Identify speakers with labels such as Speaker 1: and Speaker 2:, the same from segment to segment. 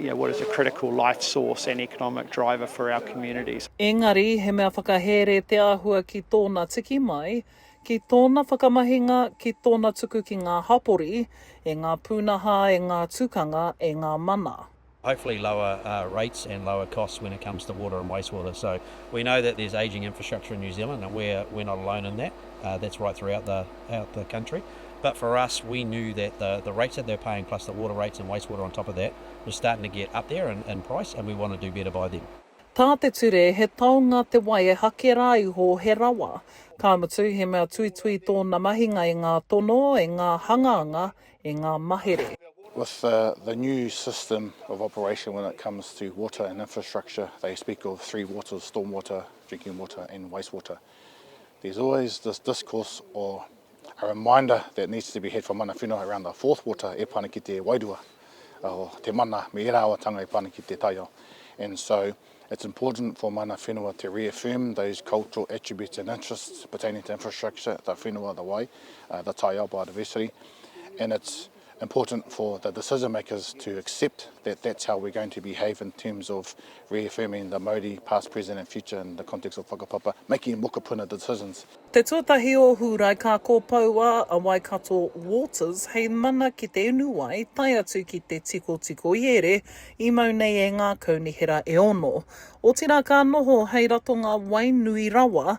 Speaker 1: You know, what is a critical life source and economic driver for our communities. Engari, he mea
Speaker 2: whakahere te āhua ki tōna tiki mai, ki tōna whakamahinga, ki tōna tuku ki ngā hapori, e ngā pūnaha, e ngā tukanga, e ngā mana. Hopefully lower
Speaker 3: rates and lower costs when it comes to water and wastewater. So we know that there's ageing infrastructure in New Zealand and we're not alone in that. That's right throughout the. out the country but for us we knew that the the rates that they were paying plus the water rates and waste water on top of that was starting to get up there in in price and we want to do better by them. Tā te ture
Speaker 2: he taonga te wai e hake rā iho he rawa, ka mutu he mea tuitui tōna mahinga i ngā tono, i ngā hanganga, i ngā mahere. With the
Speaker 4: the new system of operation when it comes to water and infrastructure they speak of three waters, storm water, drinking water and waste water. There's always this discourse or a reminder that needs to be had for mana whenua around the fourth water e pana ki te wairua, o te mana me era awatanga e pana ki te taiao. And so it's important for mana whenua to reaffirm those cultural attributes and interests pertaining to infrastructure, the whenua, the wai, uh, the taiao, biodiversity. And it's important for the decision makers to accept that that's how we're going to behave in terms of reaffirming the Maori past, present and future in the context of whakapapa, making mokopuna decisions. Te tuatahi o
Speaker 2: Hūrae ka kopoua a Waikato Waters hei mana ki te unu wai tae atu ki te tikotiko i ere i mau nei e ngā kaunihera e ono. Otirā ka noho hei ratonga wai nui rawa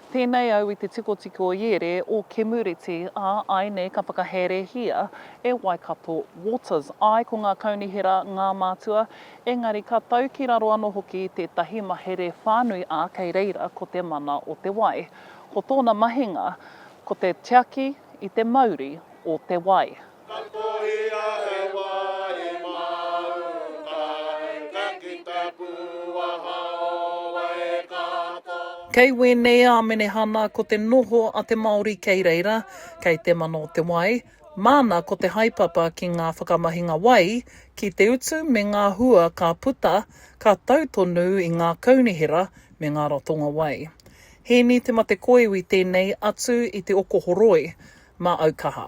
Speaker 5: Pēnei au i te
Speaker 2: tikotiko o Iere, o Kemureti, ā, ai nei ka whakaherehia e Waikato Waters. Āe, ko ngā kaunihera ngā mātua, engari ka tau ki raro anō hoki i tētahi mahere whānui, ā, kei reira ko te mana o te wai. Ko tōna mahinga, ko te tiaki i te mauri o te wai. Ka kohia he wā i māu kai, ka kita pū a Haoa e Kato. Kei wēnei a Menehana ko te noho a te Māori kei reira, kei te mana o te wai, māna ko te haepapa ki ngā whakamahinga wai, ki te utu me ngā hua ka puta, ka tau tonu i ngā kaunihera me ngā ratonga wai. Hēni Te Matekoiwi tēnei atu i te okohoroi, mā Aukaha.